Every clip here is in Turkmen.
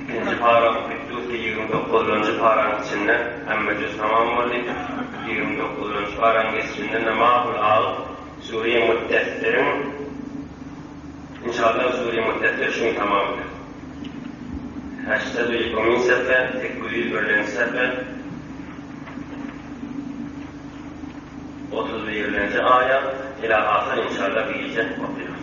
Ikinji paran Kutdusi ýigrimi dokuzynjy paranyň içinde hemmejüz tamam boldy. Ýigrimi dokuzynjy paran geçişinde Namahul alyp, Sure-i Muddessiriň Inşallah Sure-i Muddessir şu gün tamam eder. Heştedu ýüke min sefe, sekiz ýüz birlenji sefe, otuz birlenji aýat, ila-ahyr, inşallah, bu gije okaýarys.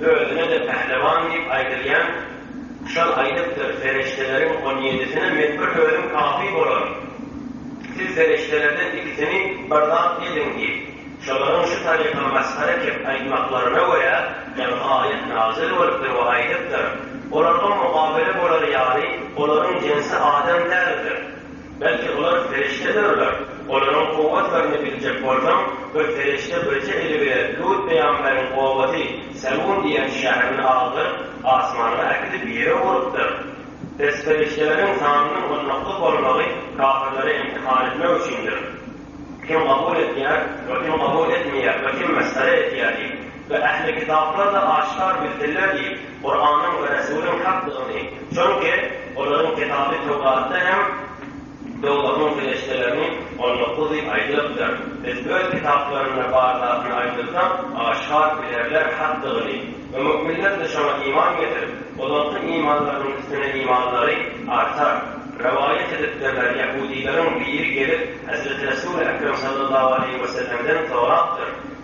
Özüne-de Pählewan diýip aýdylýan Kuşan aýdypdyr, Perişdeleriň on ýedisine men bir özüm kafi bolaryn. Siz perişdelerden ikisini bir zat ediň diýip, şolaryň şu taryka masgara kep aýtmaklaryna görä, ýaňy aýat nazil bolupdyr we aýdypdyr, Olarga mukabele bolar ýaly olaryň jensi adam däldir. Belki olar perişdedirler. Olaryň kuwwatlaryny biljek bolsaň, bir perişde birje eli bilen Lut pygamberyň obasy Selun diýen şäherini agdaryp, asmana äkidip ýere urupdyr. Pes perişdeleriň sanynyň onnakda bolmagy kafirleri imtihan etmek üçindir. Kim kabul etýär we kim kabul etmeýär we kim mesgere etýär diýip, We ähli kitaplar-da aşkar bildirler diýip, Kuranyň we Resulyň hakdygyny, çünki olaryň kitaby Töwratda hem dowzahyň serişdelerini on dokuz diýip aýdylypdyr. Biz öz kitaplarynda bar zatyny aýdylsa, aşkar bilerler hakdygyny. We mu'minler-de şoňa iman getirip, ozalky imanlarynyň üstüne imanlary artar. Rowaýat edipdirler, ýahudyleriň biri gelip, Hezreti Resul-i Ekrem sallallahu aleýhi wesellemden sorapdyr,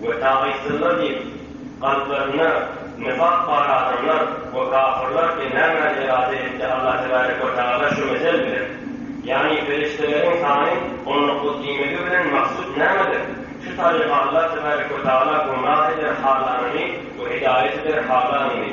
We tagytsyzlar diýip, kalplarynda nifak bar adamlar we kafyrlar ki nämäni irade etdi Allah Tebarek we Taala şu mesel bilen? Ýagny perişdeleriň sany on dokuz diýmegi bilen maksut nämedir? Şu taryka Allah Tebarek we Taala gumrah eder halanyny we hidaýat eder halanyny.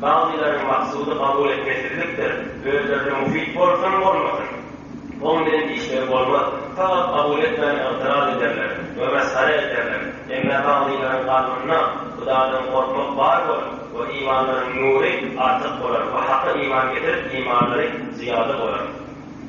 Bagtyýaryň maksudy kabul etmesizlikdir, özlerine muhit bolsam bolmasyn, oň bilen işleri bolmaz, sagat kabul etmän ygtyraz ederler we mesgere ederler, emmä bagtyýaryň kalbynda Hudadan gorkmak bar bolar we imanlaryň nury artyk bolar we Haka iman getirip imanlary zyýada bolar.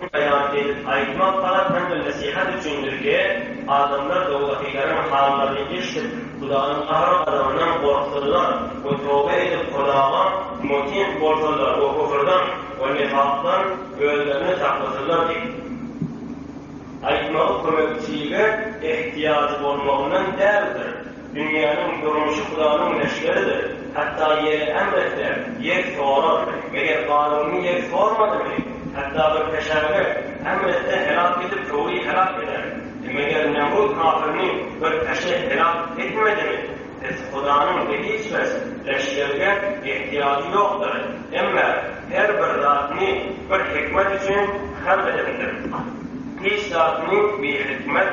Bu beýan edip aýtmak garaz hem-de nesihat üçindirki, adamlar dowdakylaryň hallaryny eşidip, Hudaýyň gahar-gazabyndan gorksalar we toba edip Hudaýa mutin bolsalar we küfrden we nifakdan özlerini saklasalar diýip aýtmagy kömekçilige ähtiýajy bolmagyndan däldir. Dünýäniň durmuşy Hudanyň leşgeridir. Hatda ýeri ämretler, ýer sorar. Meger Garuny ýer sormadymy? Hatda bir peşäňe ämretse heläk edip köwri heläk eder. E meger Nemrut kafirini bir peşe heläk etmedimi? Pes Hudanyň hediçbes leşgerige ehtiýajy ýokdur. Emme her bir zatyny bir hikmet üçin halk edendir. Hiç zatyny bihikmet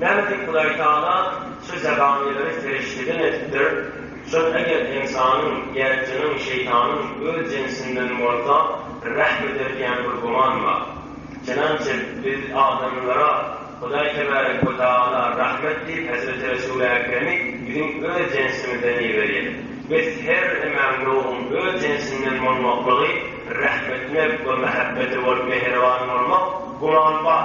Nämedik Hudaýtagala şu zabanileri serişdeden edipdir, şol eger ynsanyň, ýaryjynyň, şeýtanyň öz jinsinden bolsa rähm eder diýen bir güman bar. Çenançä biz adamlara Hudaý Tebärek we Tagala rahmet diýip Hezreti Resul Äkremi biziň öz jinsimizden iberýär. Biz her emäň ýoguň öz jinsinden bolmaklygy rahmetine we mähebbete bolup mähriban bolmak güman bar.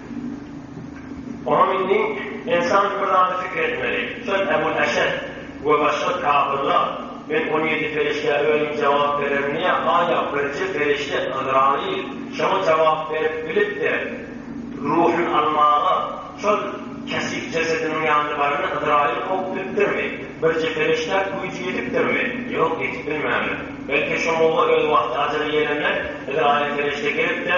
Onuň indi Ensam bir zady pikir etmeli. Şol Ebul Eşet we başga kapyrlar, Men on ýedi perişdä özüm jogap bererin diýýä, haýa, birje perişde, Yzraýyl, şoňa jogap berip bilipdir. Ruhuny almaga şol kesik jesediniň ýanyna baranda Yzraýyl kowup bilipdirmi? Birje perişdä güýji ýetipdirmi? Ýok, ýetip bilmändir. Belki, şoňluga öz wagty ajal ýelenler, Yzraýyl perişde gelip-de,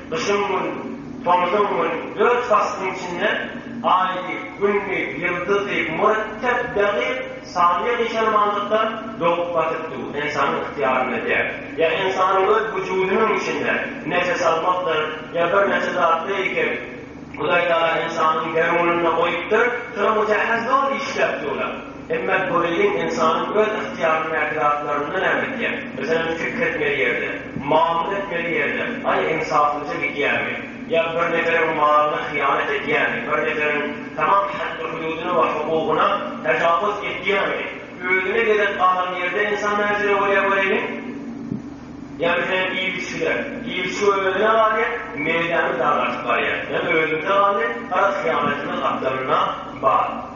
Gyşyň güni, tomuzyň güni, dört paslyň içinde Aýdy, Gündi, Ýyldyzy, mürtep, dekyk, sanyýa gyşarmanlykda dogup batyp dur, ynsanyň ygtyýarynda däl. Ýa ynsanyň öz wujudynyň içinde, nefes almakdyr, ýa birnäçe zat beýkek, Hudaý Taala ynsanyň derunynda goýupdyr, şonuň üçä has zor işläp durlar. Emma Toleýin ynsanyň öz ygtyýaryndaky zatlaryndan äwdipdir. Meselem, pikir etmeli ýerde, mamla etmeli ýerde, aý, ynsaplyja gidýärmi? Ýa bir neferiň malyna hyýanat edýärmi? Bir neferiň tamam haddy-hududyna we hukugyna tajawuz edýärmi? Özüne gezek galan ýerde ynsan nähili bolýar göräýliň? Ýa meselem, iýgiçgiler. Iýgiçgi özüne galýar, meýdany dargadyp barýar. Ýa özümize galdy, garaz, hyýanatymyz gapdalynda bar.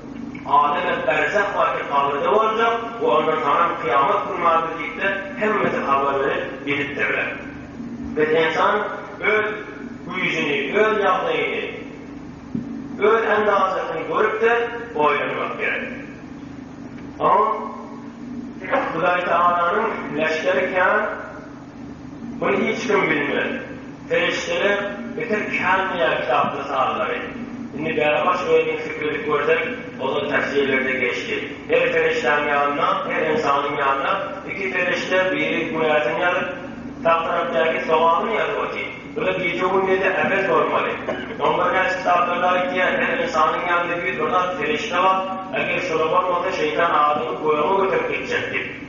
Adem-et berzah barky kabyrda boljak we onda saňam kyýamat güni bardyr diýipdir, hemmesi habar berip, bilipdirler. Biz ynsan öz güýjüni, öz ýagdaýyny, öz andazasyny görüpdir, oýlanmak gerek. Soň Hudaý Tagalanyň leşgeri kän. Muny hiç kim bilmez. Perişdeler bitir känmeýär kitapda sanlary. Indi bäri başyň elini süpredip görseň, ozal täfsirlerde geçdi. Her perişdäň ýanynda, her ynsanyň ýanynda iki perişde biri günäsini ýazyp, sag tarapdaky sogabyny ýazyp otyr. Bu-da gije-gündize äwez bolmaly. On bir näçe kitaplarda aýtýar, her ynsanyň ýanynda ýüz bir zat perişde bar, eger şular bolmasa şeýtan adamy göge göterip gitjek diýip.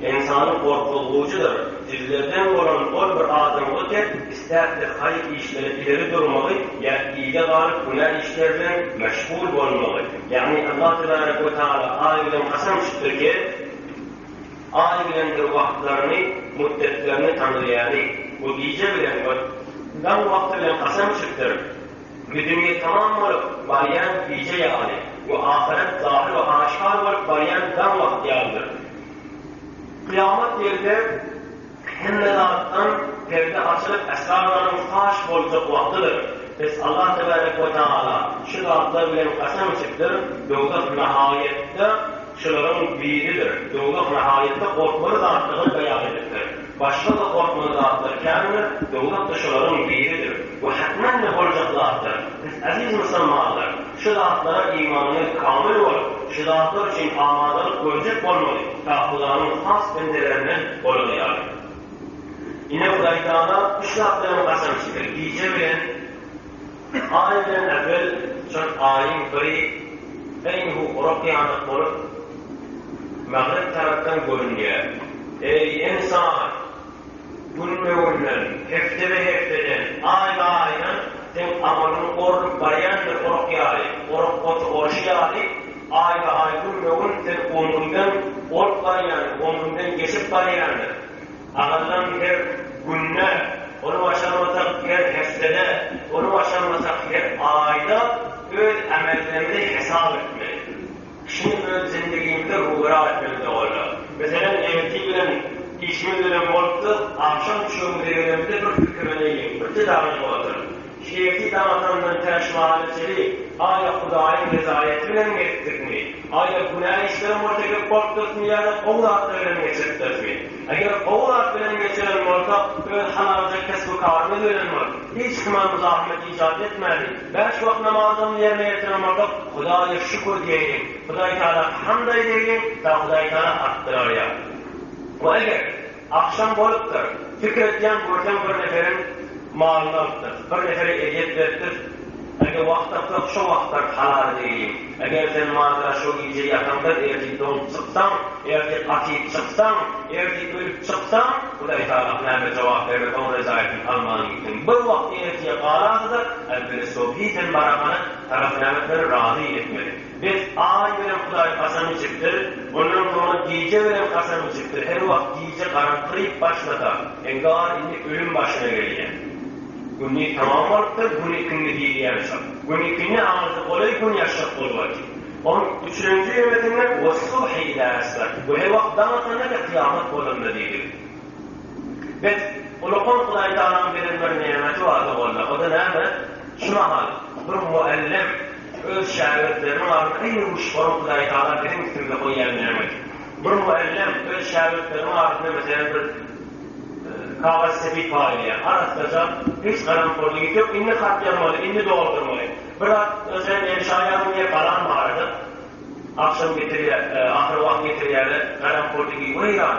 Ynsany gorkuzgujydyr. Sizlerden bolan ol bir adamygy tek istäpdir haýyr işlere ileri durmagy ýa yza galyp günä işler bilen meşgul bolmagy. Ýagny Allah Tebarek we Taala Aý bilen kasam tutdy ki, Aý bilendir wagtlaryny, müddetlerini tanalýaly. We gije bilen we daň wagty bilen kasam tutdyr. Bu dünýe tamam bolup barýan gije ýaly we ahyret zahyr we aşkar bolup barýan daň wagt ýalydyr. Kyýamat ýerde hemme zatdan perde açylyp esrarlaryň faş boljak wagtydyr. Pes Allah tebärek we taala şu zatlar bilen kasam içipdir, Dowzah nahaýatda Şularyň biridir. Döwlak nahaýatda gorkmaly zatdygyny beýan edipdir. Başga-da gorkmaly zatlar kändir, döwlak-da şularyň biridir we hätmen-de boljak zatdyr. Siz, eziz musulmanlar, şu zatlara imanyňyz kamyl bolup, şu zatlar üçin amadalyk görjek bolmaly, ta Hudaýyň has bendelerinden bolany ýaly. Ine, Hudaýtagala üç zat bilen gasam içdi, gije bilen, Aý bilen äpel çöp Aýyň pyry eýýhu gurak ýanak bolup Magrep tarapdan görünýär. Eý, ynsan! Günbe-günden, heftebe-hefteden, aýba-aýdan seň amalyň orlup barýandyr orak ýaly, orak oty orşy ýaly, aýba-aý, günbe-gün sen omrüňden olup barýandyr, omrüňden geçip barýandyr. Sagadylan her günde, ony başarmasak her hepdede, ony başarmasak her aýda öz ämellerimizi hesap etmeli. Kişini öz zindigimizde ruberal etmeli doganlar. Meselem ertir bilen işimiz bilen bolupdyk, agşam düşegimize gelenimizde bir pikirleneýin, birje zada edip oturyň. Şemsi daň atandan tä şu hala çenli Aýa Hudaýyň rezaýaty bilen gezipdikmi? Aýa günä işleriň we tekepburtlygyny ýa-da gowy zatlar bilen geçiripdirismi? Eger gowy zat bilen geçiren bolsak, öz halalja kesbi-karymyz bilen bolup, hiç kime muzahmet ijat etmäli, bäş wagt namazlaryny ýerine ýetiren bolsak, Hudaýa şükür diýeýliň, Hudaýtagala hamd aýdaýlyň, ta Hudaýtagala artdyraýar. We eger. Agşam bolupdyr. Pikir etýän görseň bir neferiň malyny alypdyr. Bir nefere ezýet beripdir. Eger wagt tapsak şo wagtlar halal edeýin. Eger sen mazara şo gije ýataňda ertir doňup çyksaň, ertir gatyp çyksaň, ertir ölüp çyksaň, Hudaý Talag näme jogap bermez oň rezaýatyny alman gitdiň. Bir wagt ertire galarsyda, äwweli sobhi sen barahana tarap näme etmeli razy etmeli. Biz Aý bilen Hudaý kasam içipdir, ondan soňra gije bilen kasam içipdir, her wagt gije garaňkyryp başlasa, eňgar indi ölüm başyna gelýär. Gündiz tamam bolupdyr, gün ikindi diýilýänçak. Gün ikindi aňyrda golaý gün ýaşjak bolubady. On üçünji ýöresinde Wes-subhi izä esber, bu her wagt daň atanda we kyýamat bolanda diýdi. Bes, ulukan Hudaý Tagalanyň beren bir nämeti bardy walla, o-da näme? Şu mahal bir mugallym, Öz şägirtleriniň alnyna iň ruşgany Hudaýtagala biziň üstümize goýýan nämesi? Bir mugallym öz şägirtleriniň ardyna meselem bir kagyz sepip paýlaýar. Arassaja, hiç garamporlyk hiç ýok. Indi hat ýazmaly, indi doldurmaly. Bir zat özem ýene şaý alym diýip galam barada agşam getirýär, ahyry wagt getirýärler. Garampol diýip weýran.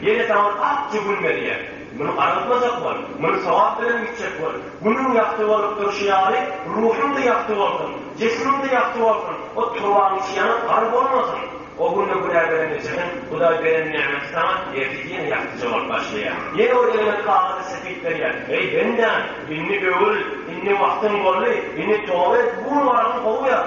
Ýene saňa ak jübül berýär. Muny aratmajak bol. Muny sogap bilen gitjek bol. Günüň ýagty bolup durşy ýaly, ruhuň-da ýagty bolsun, jismiň-de ýagty bolsun, o turbaň içi ýanyp gar bolmasyn. O günde günä beren ejiriň, Hudaý beren nämeti saňa ertir ýene ýagtyja bolup başlaýar. Ýene ol eliňe kagyzy sepip berýär. Eý, bendäm, indi öwül, indi wagtyň boldy, indi toba et, bu gün waragyň gowy ýaz.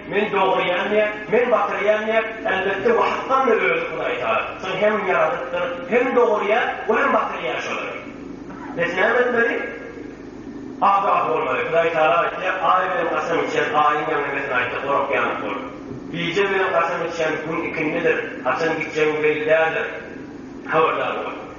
Men dogurýan däl, men batyrýan däl, elbetde bu hakkam-da özi Hudaýtalan, soň hem ýaradypdyr, hem dogurýar we hem batyrýar şolary. Biz näme etmeli? Agah bolmaly. Hudaýtala aýtýar, Aý bilen kasam içýän Aýyň ýaňy bilen aýtdy, Gork ýanyp bol. Gije bilen kasam içýän Gün ikindidir, haçan gitjegiň belli däldir, habardar bol.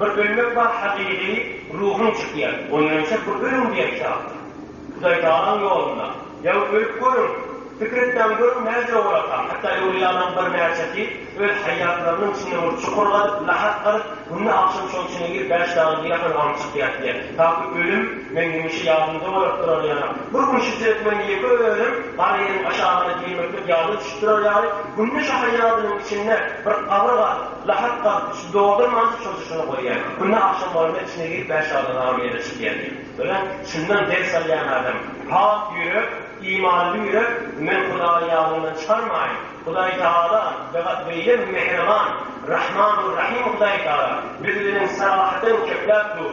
Bir ölmek bar hakyky ruhuň çykýar onýança bir ölüň diýen çagyr Hudaý Tagalaň ýolunda ýaňy ölüp görüň pikir etmäň görüň näjüre bolarkaň hatda öwlüýalaň bir näçesi öz haýýatlarynyň içinde bir çukur gazyp lahas gazyp günde agşam şoň içine girip bäş dagy diýerkaň aňyp çykýar diýýär taky ölüm meň hemişe ýadymda bolar durar ýaly bir gün şu türekmen ýeke özüm gara ýeriň aşagyna girmeklik ýadyma düşüp durar ýaly günde şo haýýadynyň içinde bir gabyr gazyp Lahar gaz, şu dogry mantyk çozuşyny goýýar. Günde agşam bolanda içine girip bäş ýoldan agyr ýere çykýar diýip. Örän çyndan ders alýan adam. Pak ýürek, imanly ýürek, men Hudaýy ýadymdan çykarmaýyn. Hudaý Tagala, begat beýle mähriban, Rahman we Rahym Hudaý Tagala, biz bilen sarahatdan köpläp dur.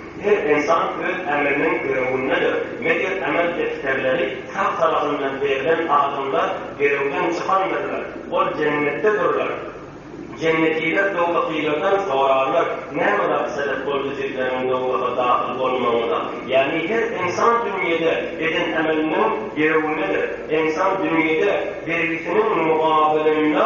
Her ynsan öz ämeliniň görewindedir. Meger ämel defterleri sag tarapyndan berlen adamlar gerewden çykandyrlar. Ol jennetde durlar. Jennetiler dowzahylardan sorarlar, Näme zat sebep boldy sizleriň dowzaha dahyl bolmagyňyza? Ýagny her ynsan dünýede eden ämeliniň gerewindedir. Ynsan dünýede bergisiniň mugabelynda.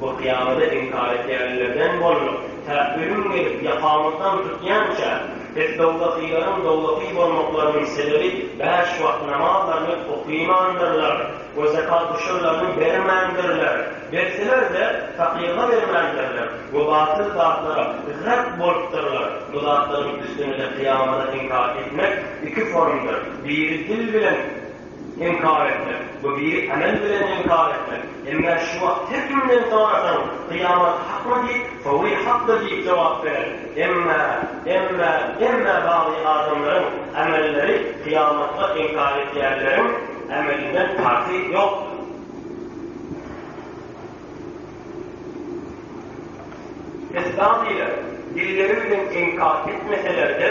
Bu kyýamada inkar edýänlerden bolduk. Tä ölüm gelip, ýakamyzdan tutýança, biz dowzahylaryň dowzahy bolmaklarynyň sebebi bäş wagt namazlaryny okyýmandyrlar we zekat guşurlaryny bermändirler, berseler-de, fakyrga bermändirler we batyl zatlara rep bolupdyrlar. Bu zatlaryň üstüne-de kyýamada inkar etmek iki formdyr, biri dil bilen, Inkar etmek, bu bir emel bilen inkar etmek, emma şu wagt her kimden sorasaň, kyýamat hakmy diýip, sowi hakdyr diýip jogap berer. Emma, emma, emma bagly adamlaryň emelleri kyýamatda inkar etýänleriň emelinden parhy ýokdur. Biz baglylar dilleri bilen inkar etmeseler-de,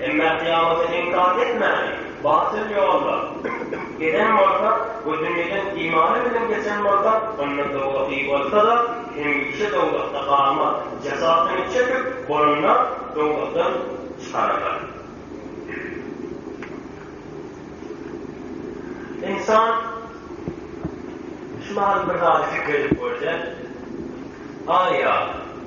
Emma kyýamata inkar etmäni batyl ýolda eden bolsa we dünýeden imany bilen geçen bolsa, onda dowzahy bolsa-da, hemişe dowzahda galmaz, jezasyny çekip bolanda dowzahdan çykararlar. Ynsan şu mahaly bir zady pikir edip görse, Aý-a!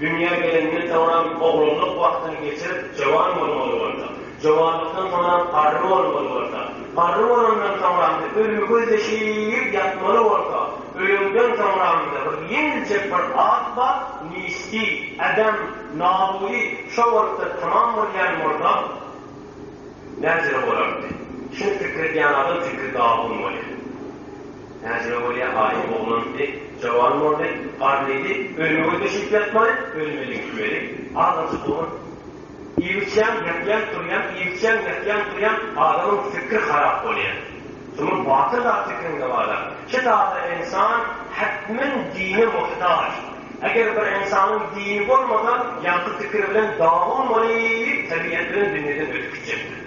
Dünýä gelenden soňram oglanlyk wagtyny geçirip, jowan bolmaly bolsa, jowanlykdan soňram garry bolmaly bolsa, garry bolandan soňramda ölümi gözleşip ýatmaly bolsa, ölenden soňramda bir ýeňiljek bir at bar, Nisti, Adam, Nabuly, şo bolupdyr tamam bolýan bolsa, näjele bolardy? Şuny pikir edýän adam fikri dawun bolýar. Näzire bolýa aýy oglan diýdi. Jawan boldy. Gar diýdi. Önüme düşüp ýatmaly, önüme düşmeli. Azajyk oglan. Iýip-içýäň, ýatýaň, turýaň, iýip-içýäň, ýatýaň, turýaň, adamyň pikiri harap bolýa. Şunuň batyr zat pikirinde bar-a. Şi zada ensan hetmen dine muhtaç. Eger bir ensanyň dini bolmasa, ýaňky pikiri bilen dagyn bolup, tebigat bilen dünýeden ötüp gitjekdir.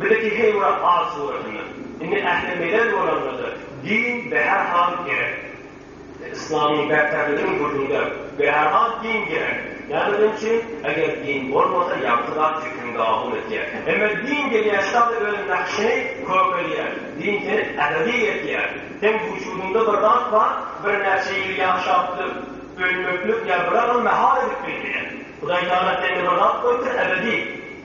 Bileki heýwra at suratynda. Indi ähli melez bolanlarda din bärhal gerek. Yslamyň berkärliginiň gürrüňde bärhal din gerek. Nämedeň üçin? Eger din bolmasa ýagty zat pikiriň gabul etýär. Emma din gelýär şu zady öz nakşyny kökelýär. Din seni ebedi etýär. Seň wujudyňda bir zat bar, birnäçe ýyl ýaşapdyr. Ölmeklik ýa biragyl mähal edip bilmeýär. Hudaý Tagala sende bir zat goýupdyr ebedi.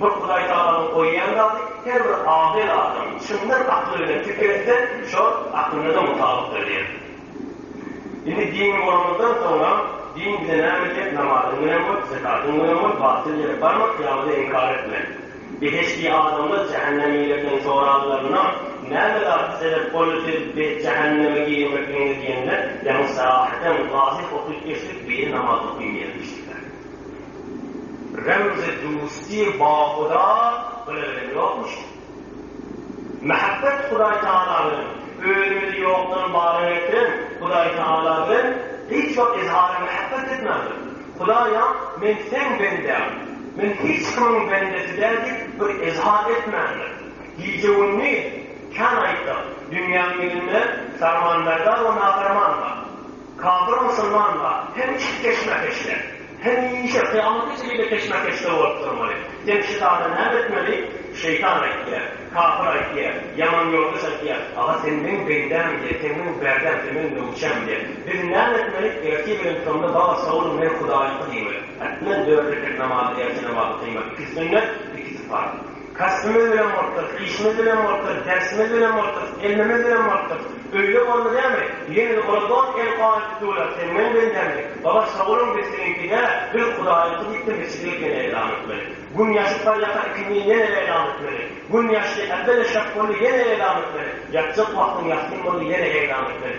Bir Hudaýtagalaň goýýan zady her bir agyl adam çyndan akly bilen pikir etse, şol aklyna-da mutabykdyr diýen. Indi dinli bolanymyzdan soňra, din bize näme edýär, namazyň bilen bol, zekatyň bilen bol, batyl ýere barma, kyýamada inkar etme. Behişdi adamlar jähennemlilerden soralylarynda, Näme zat sebäp boldy siz jähenneme girmekligiňize diýende, Ýaňy sahydan, wahyh okyp geçdik, biri namaz okyn diýen diýişipdir. Remzi Dusti Bahuda bile bilen ýokmuşyn. Mähbet Hudaý Tagala bilen, özümizi ýokdan bara getiren Hudaý Tagala bilen hiç wagt izhary mähbet etmändir. Hudaýam men seň bendäň, men hiç kimiň bendesi däl diýip bir izhar etmändir. Gije-gündiz kän aýtdyk, dünýäň ýüzünde Farmanberdar we Nafarman bar. Kafir musulmanlar hem işki keşmekeşde, hemişe kyýamata çenli-de keşmekeşde bolup durmaly. Sen şu zada näme etmeli? Şeýtan aýtýar, kafir aýtýar, ýaman ýoldaş aýtýar, Aga, sen meň bendäm, diýýär, sen meň bärdäm, sen meň nöwçäm, diýýär. Biz näme etmeli? Ertir bilen şonda Baba, sagboluň, men Hudaýyňky diýmeli. Ätmän dört rekat namazy, ertir namazy kylmaly. Ikisi sünnet, ikisi parz. Kasbymyz bilen bolupdyrys, işimiz bilen bolupdyrys, dersimiz bilen bolupdyrys, ilmimiz bilen bolupdyrys. Öýle boldy dämi? Ýene-de ola dost el kol aýdyp durlar, sen meň bendämi? Baba sagboluň biz siziňki däl, biz Hudaýyňky diýipdir mesjide ýene eýlam etmeli. Gün ýaşyp barýaka ikindin ýene eýlam etmeli. Gün ýaşdy, äbbe-de şak boldy ýene eýlam etmeli. Ýatjak wagtyň ýassyn boldy ýene eýlam etmeli.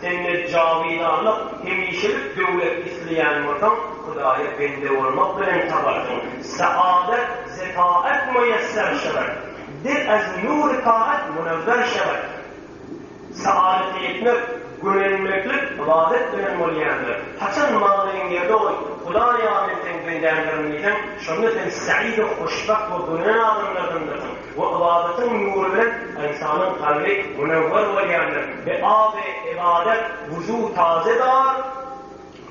Sende jawydanyk, hemişelik döwlet isleýän bolsaň, Hudaýa bende bolmak bilen tabarsyň. Saadet, zefaat meýesser şewer. Dil ez nury taat munewwer şewer. Saadete ýetmek, gönenmeklik, ybadat bilen bolýandyr. Haçan manyň ýerde ol, Hudaýa men seň bendäňdirin diýseň, şonda sen said-u hoşbagt we gönen adamlardandyryň. Bu ybadatyň nury bilen ynsanyň kalby munewwer bolýandyr. Bi aby ybadet wuzu taze dar,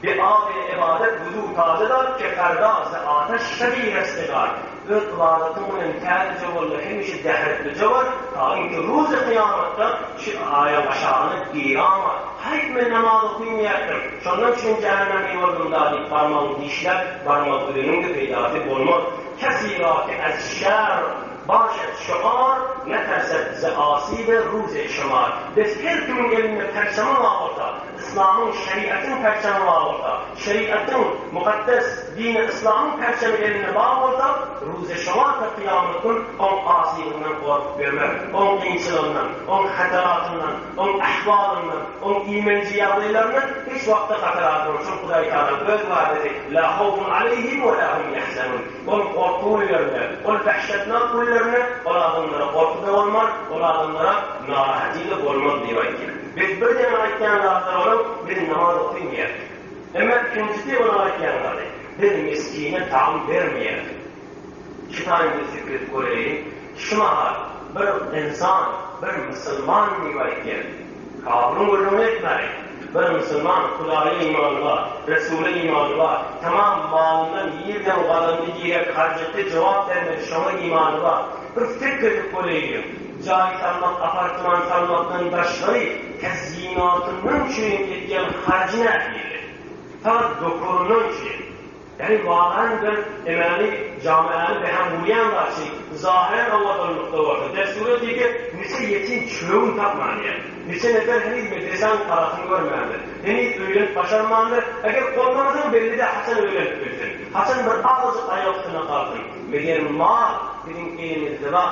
bi aby ybadet wuzu taze dar, keferda ze ateş şebi resgedar. Öz ybadatyň bilen täzeje bol we hemişe zähretlije bol, taýyn ki, ruzi kyýamatda şi aýaň aşagyna girama. Haýp, men namaz okynmeýärdim, şondan üçin jähennemli boldum-da diýip barmagyňy dişläp, barmak üzeniň-de peýdasy bolmaz. Kesirati ez-şer, baş et şygar, ne ters et bize asy we ruz-i şemar. Bes her kimiň elinde perçemi bar bolsa, yslamyň, şeriatyň perçemi bar bolsa, şeriatyň, mukaddes dini yslamyň perçemi elinde bar bolsa, ruz-i şemar we kyýamat gün oň asylygyndan gorkup ýörmek, oň kynçylygyndan, oň hataratyndan, Oň ahwalyndan, oň iýmenji ýagdaýlaryndan hiç wagtda hatar almaň, çünki Hudaý Tagala Öz wadydy, La hawfun aleýhim we la hum ýahzanun. Ol gorky günlerinde, ol dahşatnak günlerinde ol adamlara gorky-da bolmaz, ol adamlara narahaty-da bolmaz diýip aýtýar. Biz bir deňe aýtýan zatlary onuň, Biz namaz okaýmaýarys. Emma ikinjisi onuň aýtýan zady, Biz miskine taam bermeýäris. Şitaý Misiklip Goreýi şu mahal bir ynsan, bir musulman diýip aýtýar. Kabyryň gürrüňini etmäýin. Bir musulman, Hudaýa imany bar, Resula imany bar, tamam malyndan ýerden gazandy diýrek harjatda jogap bermedi şoňa imany bar. Bir fikr edip goreýliň, jaý salmak, apartman salmakdan daşgary kazinoda munçaýyn etýän harjy nähili? Faqat dokuryndan üçin. Heniz wakaýam sen emeli jamiäni behäm gurýan zaçy, zahiren awadanlykda bolsa, dessure diýse, niçe ýetim çöwün tapmandyr, niçe nefer heniz medresäň garasyny görmändir, heniz öýlenip başarmandyr, eger bolmanasaň belli-dä haçan öýlenip bilsin, haçan bir azajyk aýagustyna galsyn, meger mal biziň elimizde bar.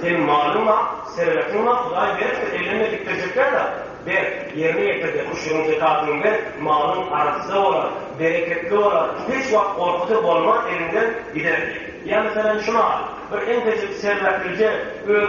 Seň malyň bar, serwetiň bar, Hudaý beripdir, ellenme dikdirjekler zat, ber, ýerine ýetir-de, küşüriň zekatyny ber, malyň arassa bolar, bereketli bolar, hiç wagt gorkusy bolmaz, eliňden gider diýip. Ýa meselem, şu mal, bir enteji serwetlice öz.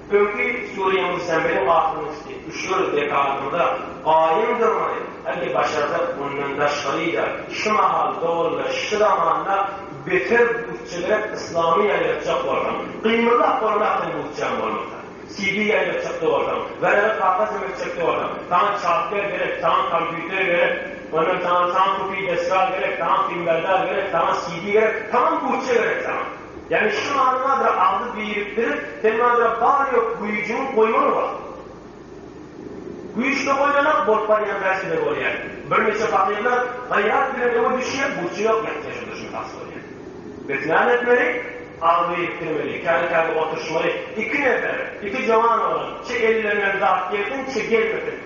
Öňki Suriýa Musammeli wagtyny içdi. Üç ýyl dekabrda gaýym durmaly, hadi başarsak mundan daşgaryda şu mahal dogulda şu zamanda beter butçeler yslamy ýaýratjak bolsaň, gymyllap bolmakdan butçaň bolmasa. CD ýaýratjakda bolsaň, waraga kaka sömetjekde bolsaň, saňa çapber gerek, saňa kompýuter gerek, ondan saňa saňa kupi desgal gerek, saňa fimberdar gerek, saňa CD gerek, tamam butça gerek saňa. Ýagny şu manydadyr agzy birikdirip, sen maňada bar-ýok güýjüňi goýmaly wagt. Güýçli goýlanak bolup barýan bärsigine bolýar. Birnäçe fakyrlar gaýrat bilen öňe düşýär, burçy ýok ýatja şonda şuny has bolýar. Biz näme etmeli? Agzy birikdirmeli, käni-käni oturyşmaly. Iki nefer, iki jowan oglan, çe ellerinden zat gelsin, çe gelmesin.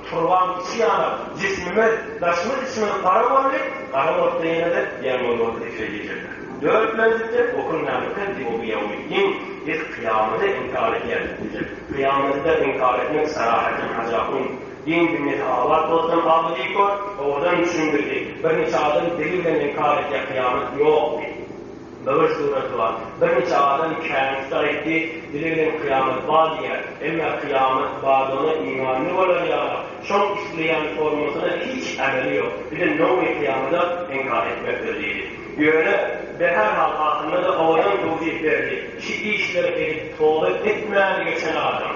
Turban içi ýanar, jismimiz, daşymyz içimiz gara boldy, gara bolsa ýene-de ýaňman boldy diýse diýjekler. Dört menzilde okunmänlikden Diwogiýawmiddin, Biz kyýamady inkar edýäris diýjek. Kyýamady-da inkar etmek Sarahatdin Hajapun, Din-dünýesi abat bolsun, Abidi kör, owadan düşündirdi. Birnäçe adam dili bilen inkar edýär, kyýamat ýok diýip. Böwür suraty bar. Birnije adam käbir sar etdi, dili bilen kyýamat bar diýýär. Emme kyýamat bardygyna imanly bolar ýaly, şoň isleýän formasyna hiç ämeli ýok. Bilen nomy kyýamada inkar etmekdir diýdi. Ýöne, be her hal ahyrynda-da owadan towsip berdi, Şi işleri edip toba etmän geçen adam,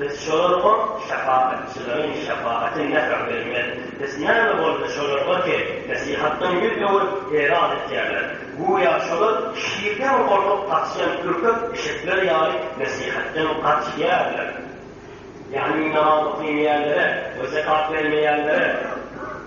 Biz şolarga şapagatçylaryň şapagaty nähak bermez. Biz näme boldy şolarga ki, nesihatdan ýüz öwürip, eýran etýärler. Göýä şolar şirden gorkup gaçýan ürkek eşekler ýaly nesihatdan gaçýärler. Ýagny namaz okaýmaýanlara we zekat bermeýänlere.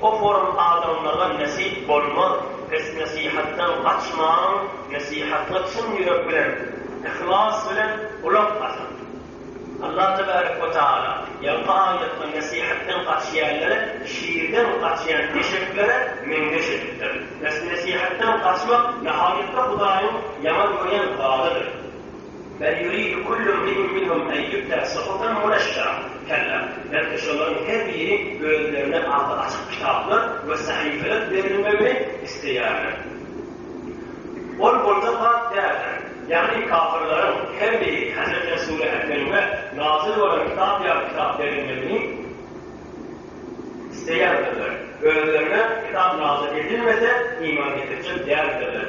Okorum adamlara nesip bolmaz pes nesihatdan gaçmaň nesihatga çyn ýürek bilen yhlas bilen gulak asyň Allah tebarek we taala ýaňky aýatda nesihatdan gaçýanlary şirden gaçýan eşeklere meňzeş edipdir pes nesihatdan gaçmak nahaýatda hudaýyň ýaman görýän zadydyr. Bel ýuridu kullu imri'in minhum en ýu'ta suhufan muneşşara, kella, belki şolaryň her biri özlerine agzy açyk kitaplar we sahypalar berilmegini isleýärler. Ol boljak zat däldir. Ýagny kafirleriň her biri Hezreti Resule äklenme, nazyl bolan kitap ýaly kitap berilmegini isleýändirler. Özlerine kitap nazyl edilmese, iman getirjek däldirler.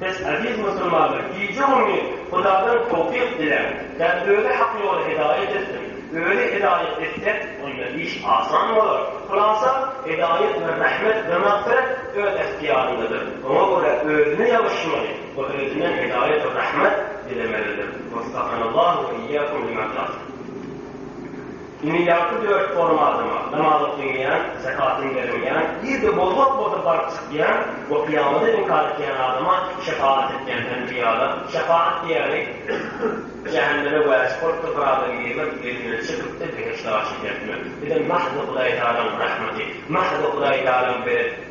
Siz, eziz musulmanlar, gije-gündiz Hudadan towfyk diläň, ýa-da özi hak ýola hidaýat etsin. Özi hidaýat etse, onda iş asan bolar. Hulasa, hidaýat we rahmet we magfyrat öz ähtiýaryndadyr. Oňa görä özüne ýalyşmaly we özünden hidaýat we rahmet dilemelidir. Weffakanallahu we eýýakum lima-tah. Dünýädäki dört forum adama, namazy kylmaýan, zekatyny bermeýän, irde bozgak bolsa baryp çykýan we kyýamada inkar etýän adama şepagat etýän enbiýalar, şepagat diýýäni, jähenneme wäjip bolupdyr, bir adamy girmek, elinden çekipdir, behişde aşyk etmek. Bizem mahzy Hudaýtagalaň rahmaty, mahzy Hudaýtagalaň beredi.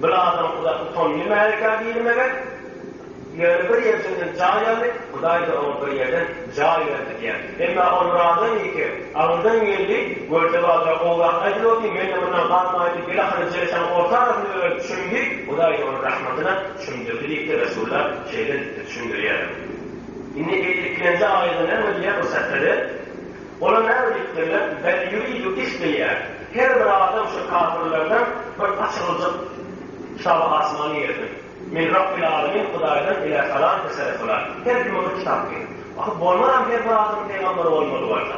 Bir adam uza tutan nimälikä diýilmegek, ýöne bir ýerjenden jaý aldy, Hudaý-da oňa bir ýerden jaý berdi diýer. Emma ol bir adam iki, aňyrdan geldi, görse badyra gowy zat aýdylypdy, men-de mundan galmaýyn diýip, bilahyry jereşaň orta arasynda öwrenip çümdi, Hudaý-da ony rahmatyna çümdürdi diýip-de resullar şeýle düşündirýärler. Indi ilkinji aýatda näme diýýär bu sätleri? Olar näme diýip durýar? Bel ýuridu isleýär. Her bir adam şu kapyrlardan bir açyljak kitaby asmany ýerden. Men Rabbil Alemin Hudaýdan ile salam kesere solar. Her kime bir kitap ger. Ahy bolmaram her bir adam peýgamber bolmaly bolsa.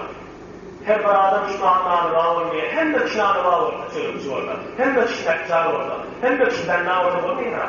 Her bir adam şu matlary ba bolmaýar. Hemme kişi alyba bolsa çözümçi bolsa. Hemme kişi näkjar bolsa. Hemme kişi bänna bolsa bolmaýar.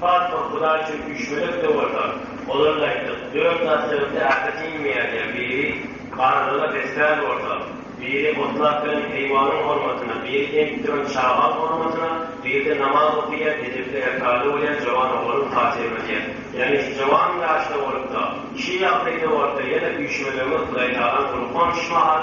Farhod Hudaý üçin üýşmedek de bolsa, ozal aýtdyk, dört zat sebäpli äpet iýmeýän ýa biri barlyga besmän bolsa, biri otlak bilen heýwanyň hormatyna, biri emip duran çagaň hormatyna, biri-de namaz okaýan, edepli erkady bolýan jowan oglanyň hatyryna diýen. Ýagny şu jowan ýaşda bolup-da, şu ýagdaýda bolup-da ýene üýşmedegiňiz Hudaýtagalaň gullugyna onyşmagal,